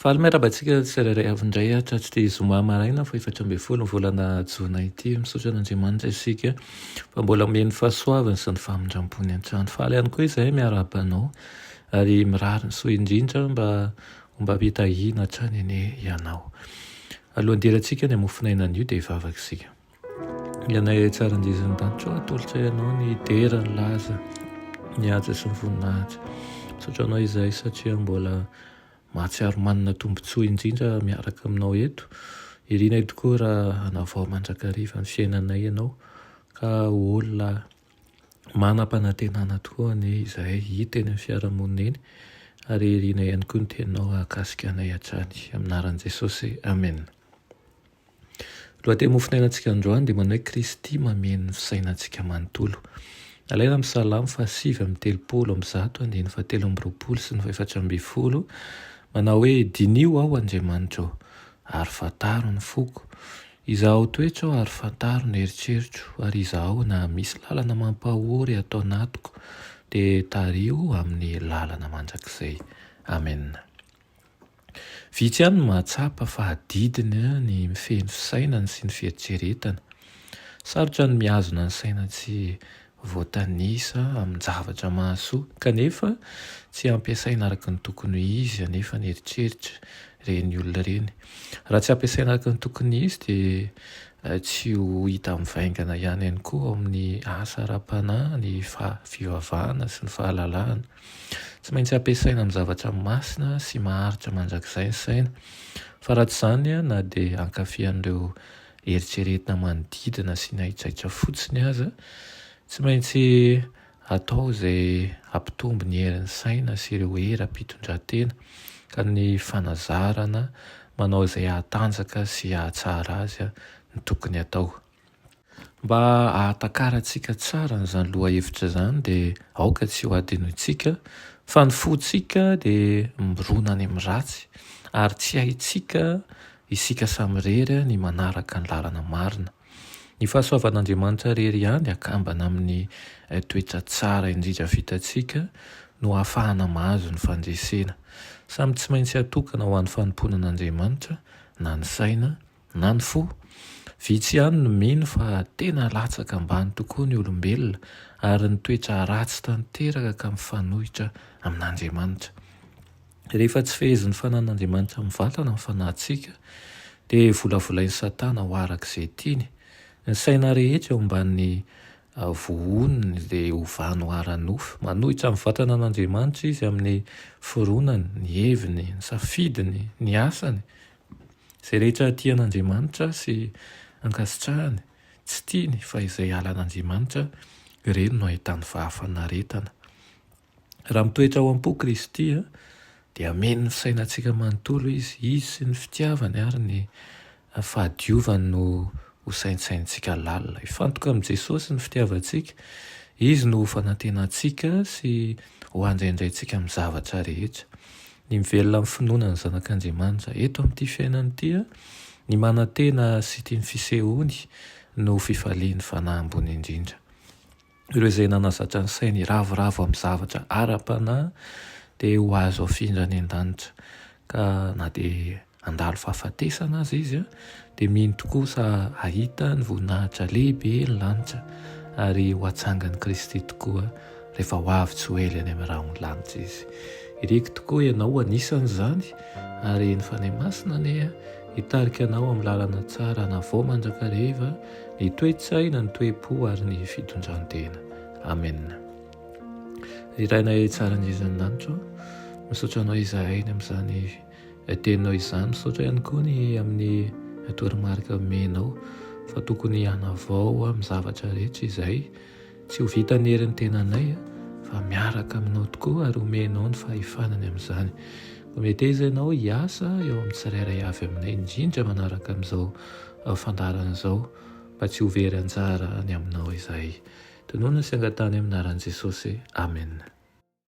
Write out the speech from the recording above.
Faly miarahaba antsika tsirairay avy indray hatratry zoma maraina fahefatra ambin'ny folo ny volana jona ity. Misaotra an'Andriamanitra isika fa mbola omeny fahasoavany sy ny famindrampony an-trano. Faly ihany koa izahay miarahaba anao ary mirary ny soa indrindra mba ho mba ampitahiana hatrany anie ianao. Alohan'ny hidirantsika ny hamofon'aina anio dia hivavaka isika. Ianay tsara anjezo an-danitro atolotra ianao ny dera ny laza ny haja sy ny voninahitra misaotra anao izahay satria mbola mahatsiaro manana tombontsoa indrindra miaraka aminao eto irinay tokoa raha hanavao mandrakariva ny fiainanay ianao ka ho olona manam-panantenana tokoa anie izahay hita eny amin'ny fiarahamonina eny ary irinay ihany koa ny teninao hahakasika anay hatrany amin'ny anaran'i Jesosy Amen. Lohateny mofonainantsika androany dia manao hoe Kristy mameno ny fisainantsika manontolo. Alaina amin'ny Salamo fahasivy amby telopolo amby zato andininy fahatelo amby roapolo sy ny fahefatra ambin'ny folo manao hoe Diniho aho Andriamanitra ô, ary fantaro ny foko. Izahao toetra aho ary fantaro ny eritreritro, ary izahao na misy lalana mampahory ato anatiko, dia tariho amin'ny lalana mandrakizay. Amena. Vitsy ihany no mahatsapa fa adidiny ny mifehy ny fisainany sy ny fieritreretany. Sarotra ny mihazona ny saina tsy voatanisa amin-javatra mahasoa, kanefa tsy ampiasaina araka ny tokony ho izy anefa ny eritreritra. Ireny olona ireny, raha tsy ampiasaina araka ny tokony izy, dia tsy ho hita mivaingana ihany ihany koa ao amin'ny asa ara-panahy ny fivavahana sy ny fahalalahana. Tsy maintsy ampiasaina amin'ny zavatra masina sy maharitra mandrakizay ny saina, fa raha tsy izany na dia hankafy an'ireo eritreretina manodidina sy ny haitraitra fotsiny aza, tsy maintsy atao izay hampitombo ny herin'ny saina sy ireo hery am-pitondrantena, ka ny fanazarana manao izay hahatanjaka sy hahatsara azy ny tokony atao. Mba hahatakarantsika tsara an'izany lohahevitra izany dia aoka tsy hohadinointsika fa ny fontsika dia mirona any amin'ny ratsy ary tsy haintsika isika samirery ny manaraka ny lalana marina. Ny fahasoavan'Andriamanitra irery ihany akambana amin'ny toetra tsara indrindra vitantsika no ahafahana mahazo ny fandresena. Samy tsy maintsy atokana ho an'ny fanompoana an'Andriamanitra na ny saina Na ny fo. Vitsy ihany no mino fa tena latsaka ambany tokoa ny olombelona ary ny toetra ratsy tanteraka ka mifanohitra amin'Andriamanitra. Rehefa tsy fehezin'ny fanan'Andriamanitra mivantana ny fanahintsika dia volavolain'i Satana ho araka izay tiany. Ny saina rehetra eo ambanin'ny vohony dia ovany ho ara-nofo. Manohitra ny vatanan'Andriamanitra izy amin'ny fironany, ny heviny, ny safidiny, ny asany, Izay rehetra tia an'Andriamanitra sy ankasitrahany, tsy tiany fa izay halan'Andriamanitra, ireny no ahitany fahafanaretana. Raha mitoetra ao am-po Kristy, dia hameno ny sainantsika manontolo Izy, Izy sy ny fitiavany ary ny fahadiovany no ho saintsainintsika lalina. Hifantoka amin'i Jesosy ny fitiavantsika, Izy no ho fanantenantsika sy ho handraindraintsika amin'ny zavatra rehetra. Ny mivelona amin'ny finoana ny Zanak'Andriamanitra eto amin'ity fiainana ity, ny manantena sy tia ny fisehoany no fifalian'ny fanahy ambony indrindra. Ireo izay nanazatra ny sainy hiravoravo amin'ny zavatra ara-panahy dia ho azo afindra any an-danitra, ka na dia handalo fahafatesana aza izy dia mino tokoa fa hahita ny voninahitra lehibe ny lanitra ary ho atsangan'i Kristy tokoa rehefa ho avy tsy ho ela any amin'ny rahon'ny lanitra izy. Iriko tokoa ianao anisan'izany ary ny Fanahy Masina anie hitarika anao amin'ny lalana tsara hanavao mandrakariva ny toe-tsaina, ny toe-po ary ny fitondran-tena. Amen. Ry Rainay tsara indrindra ny lanitra, misaotra anao izahay ny amin'izany Teny noho izany, misaotra ihany koa ny amin'ny toromarika omenao fa tokony hanavao amin'ny zavatra rehetra izay tsy ho vitan'ny herin'ny tenanay fa miaraka aminao tokoa ary omenao ny fahefana ny amin'izany. Hometeza ianao hiasa eo amin'ny tsirairay avy aminay indrindra manaraka amin'izao fandaharana izao mba tsy ho very anjara any aminao izahay. Tononina sy angatahana amin'ny anaran'i Jesosy. Amena.